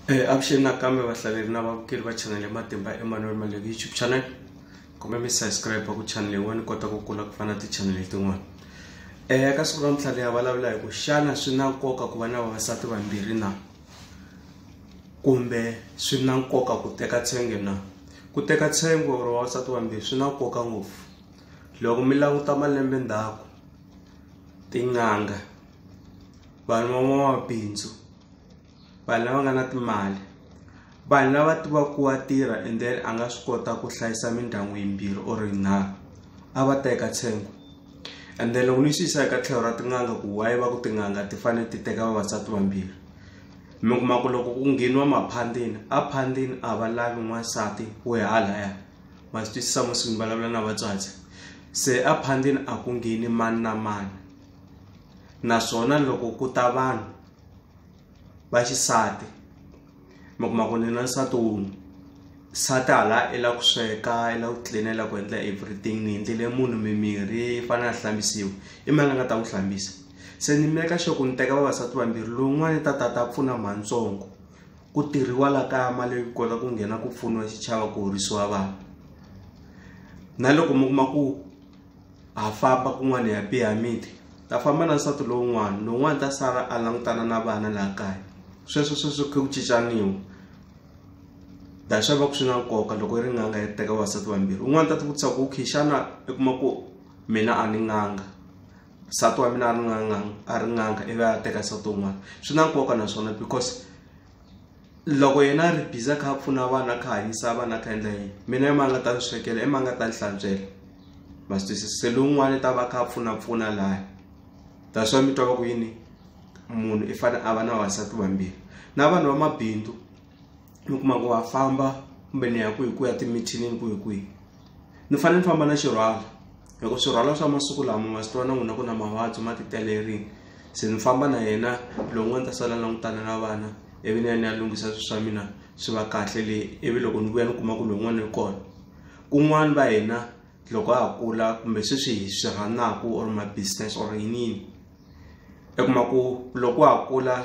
Eh, avuxeni nakambe vahlaleri na vavukeli va channel ya matimba emmanuel maleki youtube channel kumbe mi subscribe ku channel yin'wana ni kota ku kula ku fana ti-channel tin'wana um eh, ka siku ra mitlhale ya vulavula hi ku xana swi na nkoka ku va na vavasati vambirhi na kumbe swi na nkoka ku teka tshenge na ku teka tshenge or vavasati vambirhi swi na nkoka ngopfu loko mi languta malembe ndzhaku tin'anga vanhu van'wamabindzu vanhu lava nga na timali vanhu lava tivaka ku wa tirha and then a nga swi kota ku hlayisa mindyangu yimbirhi or yinharhu a va ta eka tshengo and then loko ni swi yisa eka tlhelo ra tin'anga ku wayi va ku tin'anga ti fanele ti teka vavasati vambirhi mi kuma ku loko ku ngheniwa maphandini a phandini a va lavi n'wansati wo ya halaya ma swi twisisa musi ni vulavula na vatswatsi se a phandini a ku ngheni mani na mani naswona loko ku ta vanhu va xisati mi kuma ku ni na nsati wun'we nsati hala i la ku sweka i la ku clean i la ku endla everything ni endlele munhu mimirhi i fane a hlambisiwa i mani a nga ta n'wi hlambisa se ni make sure ku ni teka vavasati vambirhi lowun'wani ta ta ta pfuna mantsongo ku tirhiwa la kaya mali yi kota ku nghena ku pfuniwa xichava ku horisiwa vana na loko mi kuma ku. ha famba kun'wana hi ya biha miti ta famba na nsati lowun'wana lowun'wana ta sala a langutana na vana laha kaya sweswo sweswo khe ku cincaniwa da swa va ku swi na nkoka loko yi ri n'anga yi teka vasati vambirhi un'wana ta ti vutisa ku khe xana i kuma ku mina a ni n'anga nsati wa mina a ri n'anga a ri n'anga ivi a teka nsati wun'wana swi na nkoka naswona because loko yena a ri busy a kha a pfuna vanhu a kha a hanyisa vanhu a kha a endla yini mina i mani a nga ta ni swekela i mani a nga ta ni hlantswela ma swi twisisa se lowun'wana i ta va a kha a pfunapfuna laya that's why mi twa va ku yini munhu i fanele a va na vavasati vambirhi na vanhu va mabindzu mi kuma ku va famba kumbe ni ya ku hi ku ya timithinini ku hi kwihi ni fanele ni famba na xirhwalo. loko swirhwalwa swa masiku lama ma swi tiva na n'wina ku na mavabyi ma titelerini se ni famba na yena lowun'wana ta sala langutana na vana ivi ni ya ni ya lunghisa swilo swa mina swi va kahle le ivi loko ni vuya ni kuma ku lowun'wana ri kona kun'wana va hina loko ha kula kumbe sweswi hi swi rhanaka or ma-business or yiniyini i kuma ku loko ha kula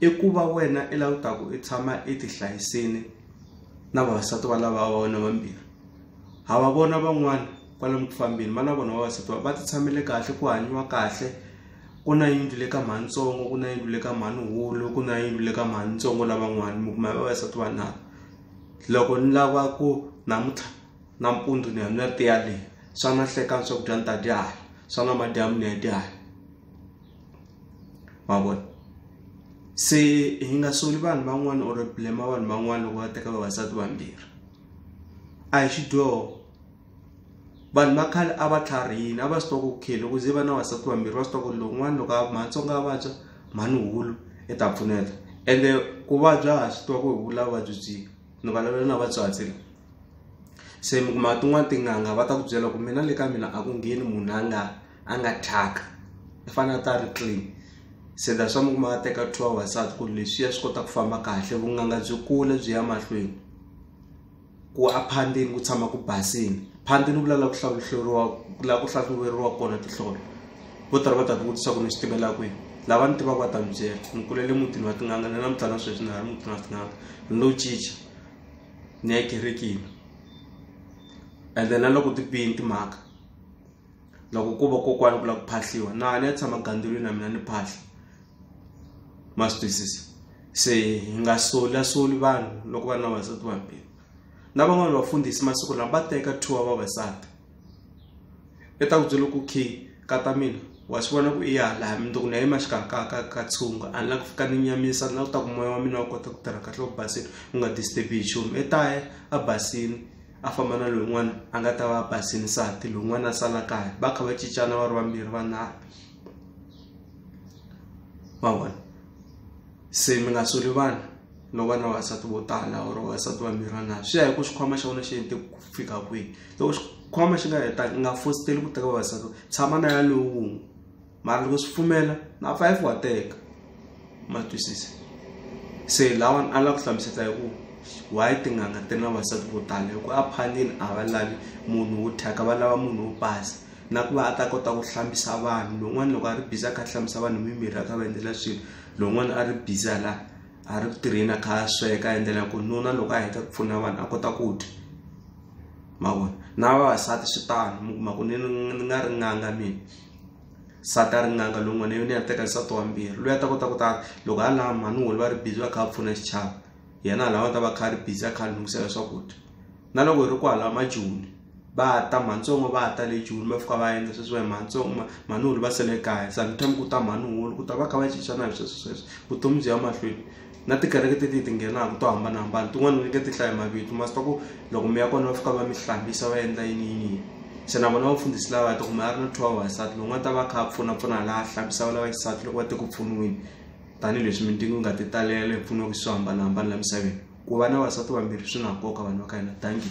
i ku va wena i la u ta ku i tshama i ti hlayisile na vavasati va lava va wena vambirhi ha va vona van'wana kwalomu ku fambeni va na vona vavasati va ti tshamele kahle ku hanyiwa kahle ku na yindlu le ka mhanintsongo ku na yindlu le ka mhanin'wulu ku na yindlu le ka mhanintsongo lavan'wana mi kuma vavasati va nharhu loko ni lava ku namuntlha nampundzu ni ya ni ya tiya leyi swa na hlekani swakudya ni ta dya hala swa na madyambu ni ya dya hala ma vona se hi nga soli vanhu van'wana or blema vanhu van'wana loko va teka vavasati vambirhi a hi xidyoho vanhu va khale a va tlharihini a va swi twa ku okay loko ze va na vasati vambirhi va swi twa ku lowun'wana loko a matsonga a vabya mhani hulu i ta pfuneta ende ku vabya ha swi twa ku hi vula vuvabyi byi ni vulavula na vatswatsi la se mi kuma tin'wani tin'anga va ta ku byela ku mina le ka mina a ku ngheni munhu a nga a nga thyaka i fanele a ta ri clean se that's why mi kuma a teka two hours a ku leswiya swi kota ku famba kahle vunanga byi kula byi ya mahlweni ku a phandeni ku tshama ku basini phandeni ku lala ku hlawuhleriwa la ku hlahluveriwa kona tihlolo vo tala va ta ti vutisa ku ni swi tivela kwihi lava ni tivaka va ta mi byela ni kulele mutini wa tin'anga ni na mutana sweswi ni ha ri mutini wa tin'anga ni lo cinca ni ya kerekini ende na loko ti bini timhaka loko ku va kokwana ku lava ku phahliwa na ni ya tshama gandzulweni na mina ni phahla ma swi twisisa se hi nga solasoli vanhu loko va ri na vavasati vambirhi na van'wani vafundhisi masiku lama va teka two wa vavasati i ta ku byela ku key ka ta mina wa swi vona ku i ya laha mindzuku na yima xikarhi ka ka ka tshunga a ni la ku fika ni nyamisa ni la ku ta ku moya wa mina wa kota ku tirha kahle u basile u nga disturb hi nchumu i ta ya a basile a famba na lowun'wana a nga ta va a basini nsati lowun'wana a sala kaya va kha va cincana va ri vambirhi vanharhu ma vona se mi nga soli vana no va na vavasati vo tala or vavasati vambirhi vanharhu swi ya hi ku xikhwama xa wena xi hete ku fika kwihi loko xikhwama xi nga hetanga u nga fositeli ku teka vavasati tshama na ya lowun'we mara loko swi pfumela na five wa teka ma twisisa se lawani a lava ku hlamuseta hi ku why tin'anga ti ri na vasati vo tala hi ku a phandini a va lavi munhu wo thyaka va lava munhu wo basa na ku va a ta kota ku hlambisa vanhu lowun'wana loko a ri biza a kha a hlambisa vanhu mimirhi a kha va endlela swilo lowun'wana a ri biza la a ri ku tirheni a kha a sweka a endlela ku nuna loko a heta ku pfuna vanhu a kota ku dya mavona na vavasati swi tano mi kuma ku ni ni nga ri n'anga mina nsati a ri n'anga lowun'wana yona ya teka nsati wa mbirhi loyi a ta kota ku ta loko a lama mhani wolo va ri busy va kha va pfuna xichava yena a lava ta va kha a ri busy a kha a lunghisela swakudya na loko hi ri ku halama joni va ta mhatsongo va ta le joni va fika va endla sweswiwa hi matsongo ma mhani wolo va sele kaya sometime ku ta mhani wolo ku ta va kha va cincana hi sweswo sweswo vutomi byi ya mahlweni na tikereke ti ti ti nghenaka to hambanahambana tin'wana ni nge ti hlaya mavito ma swi ta ku loko mi ya kona va fika va mi hlambisa va endla yini yini yini se na vona vafundhisi lava ta kuma a ri na two hour xisati lowu nga ta va kha a pfunapfuna laha hlambisaka lava xisati loko va te ku pfuniweni tanihileswi mintimu yi nga ti talela hi pfuniwaka swo hambanahambana la misaveni ku va na vasati vambirhi swi na nkoka vanhu va ka hina dankie